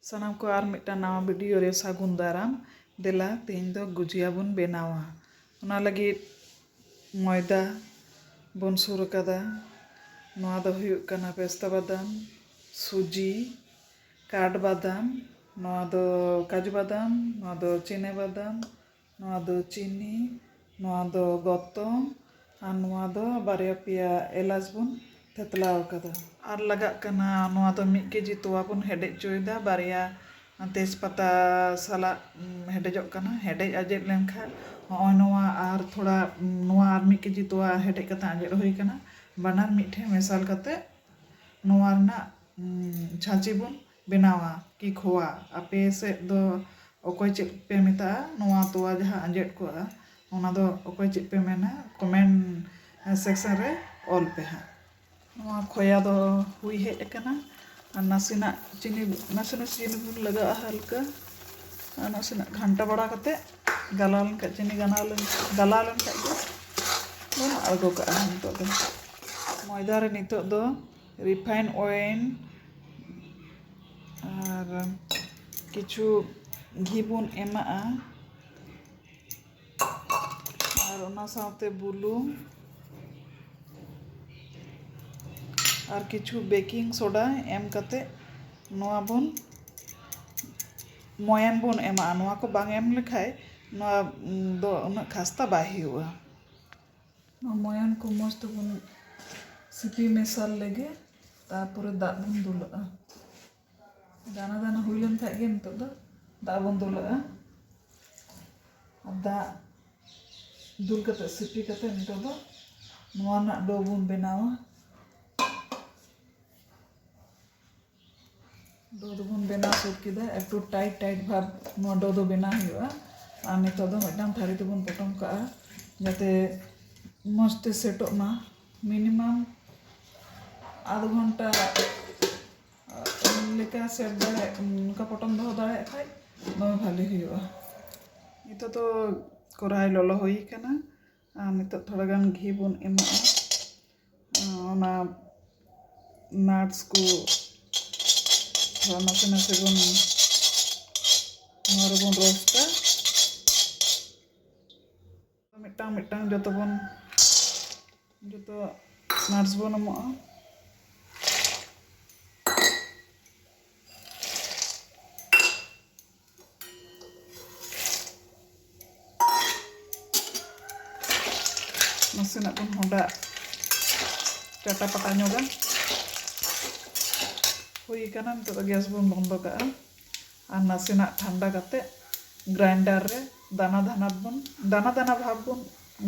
ᱥᱟᱱᱟᱢ ᱠᱚ ᱟᱨ ᱢᱤᱫᱴᱟᱝ ᱱᱟᱣᱟ ᱵᱷᱤᱰᱤᱭᱳ ᱨᱮ ᱥᱟᱹᱜᱩᱱ ᱫᱟᱨᱟᱢ ᱫᱮᱞᱟ ᱛᱮᱦᱮᱧ ᱫᱚ ᱜᱩᱡᱤᱭᱟ ᱵᱚᱱ ᱵᱮᱱᱟᱣᱟ ᱚᱱᱟ ᱞᱟᱹᱜᱤᱫ ᱢᱚᱭᱫᱟ ᱵᱚᱱ ᱥᱩᱨ ᱟᱠᱟᱫᱟ ᱱᱚᱣᱟ ᱫᱚ ᱦᱩᱭᱩᱜ ᱠᱟᱱᱟ ᱯᱮᱥᱛᱟ ᱵᱟᱫᱟᱢ ᱥᱩᱡᱤ ᱠᱟᱴ ᱵᱟᱫᱟᱢ ᱱᱚᱣᱟ ᱫᱚ ᱠᱟᱡᱩ ᱵᱟᱫᱟᱢ ᱱᱚᱣᱟ ᱫᱚ ᱪᱤᱱᱟ ᱵᱟᱫᱟᱢ ᱱᱚᱣᱟ ᱫᱚ ᱪᱤᱱᱤ ᱱᱚᱣᱟ ᱫᱚ ᱜᱚᱛᱚᱢ ᱟᱨ ᱱᱚᱣᱟ ᱫᱚ ᱵᱟᱨᱭᱟ ᱯᱮᱭᱟ ᱮᱞᱟᱪ ᱵᱚᱱ ᱛᱷᱮᱛᱞᱟ ᱟᱠᱟᱫᱟ᱾ ᱟᱨ ᱞᱟᱜᱟᱜ ᱠᱟᱱᱟ ᱱᱚᱣᱟ ᱫᱚ ᱢᱤᱫ ᱠᱮᱡᱤ ᱛᱚᱣᱟ ᱵᱚᱱ ᱦᱮᱰᱮᱡ ᱪᱚᱭᱮᱫᱟ ᱵᱟᱨᱭᱟ ᱛᱮᱡᱽ ᱯᱟᱛᱟ ᱥᱟᱞᱟᱜ ᱦᱮᱰᱮᱡᱚᱜ ᱠᱟᱱᱟ ᱦᱮᱰᱮᱡ ᱟᱡᱮᱫ ᱞᱮᱱ ᱠᱷᱟᱱ ᱦᱚᱸᱜᱼᱚᱭ ᱱᱚᱣᱟ ᱟᱨ ᱛᱷᱚᱲᱟ ᱱᱚᱣᱟ ᱟᱨ ᱢᱤᱫ ᱠᱮᱡᱤ ᱛᱚᱣᱟ ᱦᱮᱰᱮᱡ ᱠᱟᱛᱮ ᱟᱡᱮᱫ ᱦᱩᱭ ᱟᱠᱟᱱᱟ ᱵᱟᱱᱟᱨ ᱢᱤᱫ ᱴᱷᱮᱱ ᱢᱮᱥᱟᱞ ᱠᱟᱛᱮ ᱱᱚᱣᱟ ᱨᱮᱱᱟᱜ ᱪᱷᱟᱸᱪᱤ ᱵᱚᱱ ᱵᱮᱱᱟᱣᱟ ᱠᱤ ᱠᱷᱚᱣᱟ ᱟᱯᱮ ᱥᱮᱫ ᱫᱚ ᱚᱠᱚᱭ ᱪᱮᱫ ᱯᱮ ᱢᱮᱛᱟᱜᱼᱟ ᱱᱚᱣᱟ ᱛᱚᱣᱟ ᱡᱟᱦᱟᱸ ᱟᱸᱡᱮᱫ ᱠᱚᱜᱼᱟ ᱚᱱᱟ ᱫᱚ ᱚᱠᱚᱭ ᱪᱮᱫ ᱯᱮ ᱢᱮᱱᱟ ᱠᱚᱢᱮᱱᱴ ᱥᱮᱠᱥᱮᱱ ᱨᱮ ᱚᱞ ᱯᱮ ᱦᱟᱸᱜ ᱱᱚᱣᱟ ᱠᱷᱚᱭᱟ ᱫᱚ ᱦᱩᱭ ᱦᱮᱡ ᱟᱠᱟᱱᱟ ᱟᱨ ᱱᱟᱥᱮᱱᱟᱜ ᱪᱤᱱᱤ ᱱᱟᱥᱮ ᱱᱟᱥᱮ ᱪᱤᱱᱤ ᱵᱚᱱ ᱞᱟᱜᱟᱣᱟᱜᱼᱟ ᱦᱟᱞᱠᱟ ᱟᱨ ᱱᱟᱥᱮᱱᱟᱜ ᱜᱷᱟᱱᱴᱟ ᱵᱟᱲᱟ ᱠᱟᱛᱮ ᱜᱟᱞᱟᱣ ᱞᱮᱱᱠᱷᱟᱡ ᱪᱤᱱᱤ ᱜᱟᱱᱟᱣ ᱞᱮᱱ ᱜᱟᱞᱟᱣ ᱞᱮᱱᱠᱷᱟᱡ ᱜᱮ ᱵᱚᱱ ᱟᱬᱜᱚ ᱠᱟᱜᱼᱟ ᱱᱤᱛᱚᱜ ᱫᱚ ᱢᱚᱭᱫᱟ ᱨᱮ ᱱᱤᱛᱚᱜ ᱫᱚ ᱨᱤᱯᱷᱟᱭᱤᱱᱰ ᱳᱭᱮᱞ ᱟᱨ ᱠᱤᱪᱷᱩ ᱜᱷᱤ ᱵᱚᱱ ᱮᱢᱟᱜᱼᱟ ᱟᱨ ᱚᱱᱟ ᱥᱟᱶᱛᱮ ᱵᱩᱞᱩᱝ ᱟᱨ ᱠᱤᱪᱷᱩ ᱵᱮᱠᱤᱝ ᱥᱳᱰᱟ ᱮᱢ ᱠᱟᱛᱮ ᱱᱚᱣᱟ ᱵᱚᱱ ᱢᱚᱭᱟᱱ ᱵᱚᱱ ᱮᱢᱟᱜᱼᱟ ᱱᱚᱣᱟ ᱠᱚ ᱵᱟᱝ ᱮᱢ ᱞᱮᱠᱷᱟᱡ ᱱᱚᱣᱟ ᱫᱚ ᱩᱱᱟᱹᱜ ᱠᱷᱟᱥᱛᱟ ᱵᱟᱭ ᱦᱩᱭᱩᱜᱼᱟ ᱱᱚᱣᱟ ᱢᱚᱭᱚᱱ ᱠᱚ ᱢᱚᱡᱽ ᱛᱮᱵᱚᱱ ᱥᱤᱯᱤ ᱢᱮᱥᱟᱞ ᱞᱮᱜᱮ ᱛᱟᱨᱯᱚᱨᱮ ᱫᱟᱜ ᱵᱚᱱ ᱫᱩᱞᱟᱜᱼᱟ ᱫᱟᱱᱟ ᱫᱟᱱᱟ ᱦᱩᱭ ᱞᱮᱱ ᱠᱷᱟᱡ ᱜᱮ ᱱᱤᱛᱚᱜ ᱫᱚ ᱫᱟᱜ ᱵᱚᱱ ᱫᱩᱞᱟᱜᱼᱟ ᱟᱨ ᱫᱟᱜ ᱫᱩᱞ ᱠᱟᱛᱮ ᱥᱤᱯᱤ ᱠᱟᱛᱮ ᱱᱤᱛᱚᱜ ᱫᱚ ᱱᱚᱣᱟ ᱨᱮᱱᱟᱜ ᱰᱳ ᱵᱚᱱ ᱵᱮᱱᱟᱣᱟ ᱰᱳ ᱫᱚᱵᱚᱱ ᱵᱮᱱᱟᱣ ᱥᱟᱹᱛ ᱠᱮᱫᱟ ᱮᱠᱴᱩ ᱴᱟᱭᱤᱴ ᱴᱟᱭᱤᱴ ᱵᱷᱟᱵᱽ ᱱᱚᱣᱟ ᱰᱳ ᱫᱚ ᱵᱮᱱᱟᱣ ᱦᱩᱭᱩᱜᱼᱟ ᱟᱨ ᱱᱤᱛᱳᱜ ᱫᱚ ᱢᱤᱫᱴᱟᱝ ᱛᱷᱟᱹᱨᱤ ᱛᱮᱵᱚᱱ ᱯᱚᱴᱚᱢ ᱠᱟᱜᱼᱟ ᱡᱟᱛᱮ ᱢᱚᱡᱽ ᱛᱮ ᱥᱮᱴᱚᱜ ᱢᱟ ᱢᱤᱱᱤᱢᱟᱢ ᱟᱫᱷ ᱜᱷᱚᱱᱴᱟ ᱞᱮᱠᱟ ᱥᱮᱴ ᱫᱟᱲᱮᱭᱟᱜ ᱚᱱᱠᱟ ᱯᱚᱴᱚᱢ ᱫᱚᱦᱚ ᱫᱟᱲᱮᱭᱟᱜ ᱠᱷᱟᱱ ᱫᱚᱢᱮ ᱵᱷᱟᱹᱞᱤ ᱦᱩᱭᱩᱜᱼᱟ ᱱᱤᱛᱳᱜ ᱫᱚ ᱠᱚᱨᱟᱭ ᱞᱚᱞᱚ ᱦᱩᱭ ᱠᱟᱱᱟ ᱟᱨ ᱱᱤᱛᱚᱜ ᱛᱷᱚᱲᱟ ᱜᱟᱱ ᱜᱷᱤ ᱵᱚᱱ ᱮᱢᱟᱜᱼᱟ ᱚᱱᱟ ᱱᱟᱴᱥ ᱠᱚ ᱛᱷᱚᱲᱟ ᱱᱟᱥᱮ ᱱᱟᱥᱮ ᱵᱚᱱ ᱱᱚᱣᱟ ᱨᱮᱵᱚᱱ ᱨᱳᱥᱴᱟ ᱢᱤᱫᱴᱟᱝ ᱢᱤᱫᱴᱟᱝ ᱡᱚᱛᱚ ᱵᱚᱱ ᱡᱚᱛᱚ ᱱᱟᱴᱥ ᱵᱚᱱ ᱮᱢᱚᱜᱼᱟ ᱱᱟᱥᱮᱱᱟᱜ ᱵᱚᱱ ᱦᱚᱸᱰᱟ ᱪᱟᱴᱟ ᱯᱟᱴᱟ ᱧᱚᱜᱟ ᱦᱩᱭ ᱟᱠᱟᱱᱟ ᱱᱤᱛᱚᱜ ᱫᱚ ᱜᱮᱥ ᱵᱚᱱ ᱵᱚᱱᱫᱚ ᱠᱟᱜᱼᱟ ᱟᱨ ᱱᱟᱥᱮᱱᱟᱜ ᱴᱷᱟᱱᱰᱟ ᱠᱟᱛᱮ ᱜᱨᱟᱭᱤᱱᱰᱟᱨ ᱨᱮ ᱫᱟᱱᱟ ᱫᱟᱱᱟ ᱵᱚᱱ ᱫᱟᱱᱟ ᱫᱟᱱᱟ ᱵᱷᱟᱵ ᱵᱚᱱ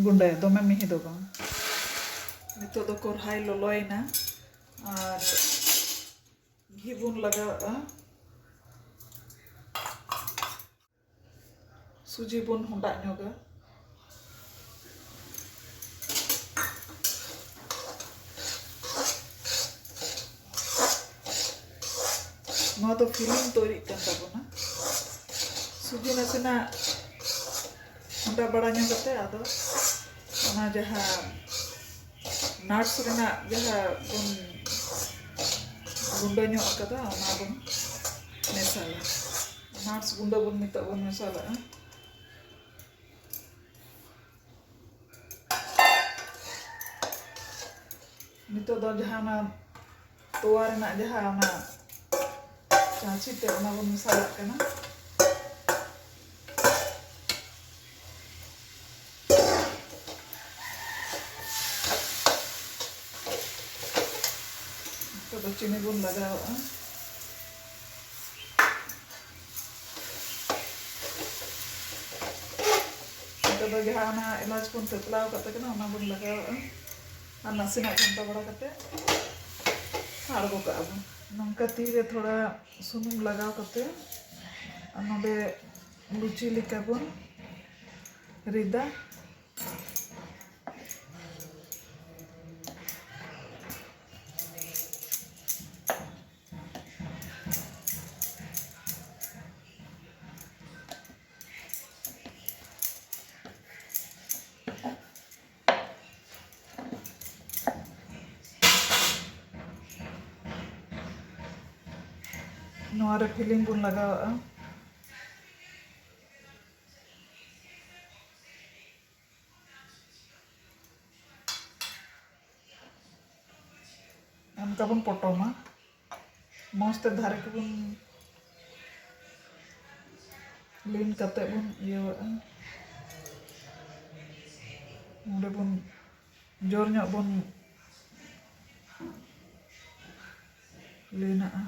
ᱜᱩᱸᱰᱟᱹᱭᱟ ᱫᱚᱢᱮ ᱢᱤᱦᱤ ᱫᱚ ᱵᱟᱝ ᱱᱤᱛᱚᱜ ᱫᱚ ᱠᱚᱨᱦᱟᱭ ᱞᱚᱞᱚᱭᱮᱱᱟ ᱟᱨ ᱜᱷᱤ ᱵᱚᱱ ᱞᱟᱜᱟᱣᱟᱜᱼᱟ ᱥᱩᱡᱤ ᱵᱚᱱ ᱦᱚᱸᱰᱟᱜ ᱧᱚᱜᱟ ᱱᱚᱣᱟ ᱫᱚ ᱯᱷᱤᱞᱤᱝ ᱛᱚᱭᱨᱤᱜ ᱠᱟᱱ ᱛᱟᱵᱚᱱᱟ ᱥᱩᱡᱤ ᱱᱟᱥᱮᱱᱟᱜ ᱦᱚᱸᱰᱟ ᱵᱟᱲᱟ ᱧᱚᱜ ᱠᱟᱛᱮ ᱟᱫᱚ ᱚᱱᱟ ᱡᱟᱦᱟᱸ ᱱᱟᱴᱥ ᱨᱮᱱᱟᱜ ᱡᱟᱦᱟᱸ ᱵᱚᱱ ᱜᱩᱸᱰᱟᱹ ᱧᱚᱜ ᱟᱠᱟᱫᱟ ᱚᱱᱟ ᱵᱚᱱ ᱢᱮᱥᱟᱞᱟ ᱱᱟᱴᱥ ᱜᱩᱸᱰᱟᱹ ᱵᱚᱱ ᱱᱤᱛᱚᱜ ᱵᱚᱱ ᱢᱮᱥᱟᱞᱟᱜᱼᱟ ᱱᱤᱛᱚᱜ ᱫᱚ ᱡᱟᱦᱟᱸ ᱚᱱᱟ ᱛᱚᱣᱟ ᱨᱮᱱᱟᱜ ᱡᱟᱦᱟᱸ ᱚᱱᱟ ᱪᱟᱪᱤ ᱛᱮ ᱚᱱᱟ ᱵᱚᱱ ᱢᱮᱥᱟᱞᱟᱜ ᱠᱟᱱᱟ ᱱᱤᱛᱚᱜ ᱫᱚ ᱪᱤᱱᱤ ᱵᱚᱱ ᱞᱟᱜᱟᱣᱟᱜᱼᱟ ᱱᱤᱛᱚᱜ ᱫᱚ ᱡᱟᱦᱟᱸ ᱚᱱᱟ ᱮᱞᱟᱪ ᱵᱚᱱ ᱛᱮᱛᱞᱟᱣ ᱠᱟᱛᱮ ᱠᱟᱱᱟ ᱚᱱᱟ ᱵᱚᱱ ᱞᱟᱜᱟᱣᱟᱜᱼᱟ ᱟᱨ ᱱᱟᱥᱮᱱᱟᱜ ᱜᱷᱟᱱᱴᱟ ᱵᱟᱲᱟ ᱠᱟᱛᱮ ᱟᱬᱜᱚ ᱠᱟᱜᱼᱟ ᱵᱚᱱ ᱱᱚᱝᱠᱟ ᱛᱤ ᱨᱮ ᱛᱷᱚᱲᱟ ᱥᱩᱱᱩᱢ ᱞᱟᱜᱟᱣ ᱠᱟᱛᱮ ᱟᱨ ᱱᱚᱰᱮ ᱞᱩᱪᱤ ᱞᱮᱠᱟ ᱵᱚᱱ ᱨᱤᱫᱟ ᱱᱚᱣᱟ ᱨᱮ ᱯᱷᱤᱞᱤᱝ ᱵᱚᱱ ᱞᱟᱜᱟᱣᱟᱜᱼᱟ ᱚᱱᱠᱟ ᱵᱚᱱ ᱯᱚᱴᱚᱢᱟ ᱢᱚᱡᱽ ᱛᱮ ᱫᱷᱟᱨᱮ ᱠᱚᱵᱚᱱ ᱞᱤᱱ ᱠᱟᱛᱮ ᱵᱚᱱ ᱤᱭᱟᱹᱣᱟᱜᱼᱟ ᱱᱚᱰᱮ ᱵᱚᱱ ᱡᱳᱨ ᱧᱚᱜ ᱵᱚᱱ ᱞᱤᱱᱟᱜᱼᱟ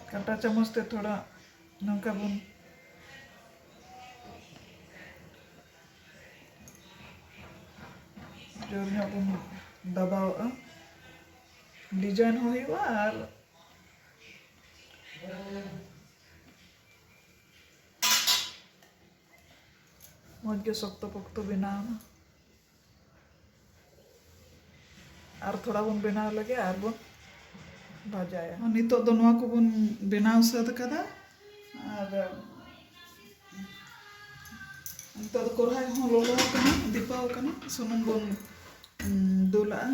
ᱠᱟᱴᱟ ᱪᱟᱢᱚᱪ ᱛᱮ ᱛᱷᱚᱲᱟ ᱱᱚᱝᱠᱟ ᱵᱚᱱ ᱡᱳᱨ ᱧᱚᱜ ᱵᱚᱱ ᱫᱟᱵᱟᱣᱟᱜᱼᱟ ᱰᱤᱡᱟᱭᱤᱱ ᱦᱚᱸ ᱦᱩᱭᱩᱜᱼᱟ ᱟᱨ ᱢᱚᱡᱽ ᱜᱮ ᱥᱚᱠᱛᱚ ᱯᱚᱠᱛᱚ ᱵᱮᱱᱟᱣ ᱮᱱᱟ ᱟᱨ ᱛᱷᱚᱲᱟ ᱵᱚᱱ ᱵᱮᱱᱟᱣ ᱞᱮᱜᱮ ᱟᱨ ᱵᱚᱱ ᱵᱷᱟᱡᱟᱭᱟ ᱱᱤᱛᱚᱜ ᱫᱚ ᱱᱚᱣᱟ ᱠᱚᱵᱚᱱ ᱵᱮᱱᱟᱣ ᱥᱟᱹᱛ ᱠᱟᱫᱟ ᱟᱨ ᱱᱤᱛᱚᱜ ᱫᱚ ᱠᱚᱲᱦᱟᱭ ᱦᱚᱸ ᱞᱚᱞᱚ ᱟᱠᱟᱱᱟ ᱫᱤᱯᱟᱣ ᱟᱠᱟᱱᱟ ᱥᱩᱱᱩᱢ ᱵᱚᱱ ᱫᱩᱞᱟᱜᱼᱟ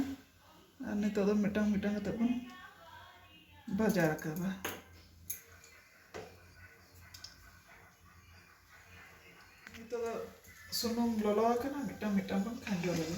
ᱟᱨ ᱱᱤᱛᱚᱜ ᱫᱚ ᱢᱤᱫᱴᱟᱝ ᱢᱤᱫᱴᱟᱝ ᱠᱟᱛᱮ ᱵᱚᱱ ᱵᱷᱟᱡᱟ ᱨᱟᱠᱟᱵᱟ ᱱᱤᱛᱚᱜ ᱫᱚ ᱥᱩᱱᱩᱢ ᱞᱚᱞᱚ ᱟᱠᱟᱱᱟ ᱢᱤᱫᱴᱟᱝ ᱢᱤᱫᱴᱟᱝ ᱵᱚᱱ ᱠᱷᱟᱸᱡᱚ ᱞᱮᱜᱮ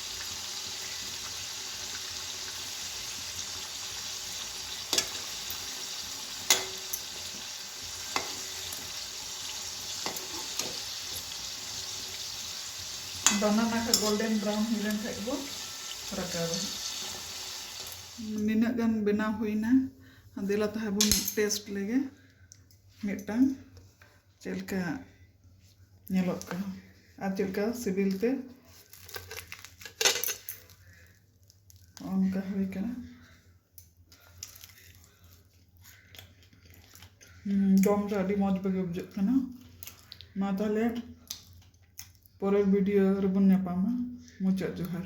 ᱵᱟᱱᱟᱨ ᱱᱟᱠᱷᱟ ᱜᱳᱞᱰᱮᱱ ᱵᱨᱟᱣᱩᱱ ᱦᱩᱭ ᱞᱮᱱ ᱠᱷᱟᱡ ᱜᱮᱵᱚ ᱨᱟᱠᱟᱵᱟ ᱱᱤᱱᱟᱹᱜ ᱜᱟᱱ ᱵᱮᱱᱟᱣ ᱦᱩᱭᱱᱟ ᱫᱮᱞᱟ ᱛᱟᱦᱞᱮ ᱵᱚᱱ ᱴᱮᱥᱴ ᱞᱮᱜᱮ ᱢᱤᱫᱴᱟᱝ ᱪᱮᱫ ᱞᱮᱠᱟ ᱧᱮᱞᱚᱜ ᱠᱟᱱᱟ ᱟᱨ ᱪᱮᱫ ᱞᱮᱠᱟ ᱥᱤᱵᱤᱞ ᱛᱮ ᱚᱱᱠᱟ ᱦᱩᱭ ᱠᱟᱱᱟ ᱡᱚᱢ ᱨᱮ ᱟᱹᱰᱤ ᱢᱚᱡᱽ ᱵᱩᱜᱮ ᱵᱩᱡᱷᱟᱹᱜ ᱠᱟᱱᱟ ᱢᱟ ᱛᱟᱦᱚᱞᱮ ᱯᱚᱨᱮᱨ ᱵᱷᱤᱰᱤᱭᱳ ᱨᱮᱵᱚᱱ ᱧᱟᱯᱟᱢᱟ ᱢᱩᱪᱟᱹᱫ ᱡᱚᱦᱟᱨ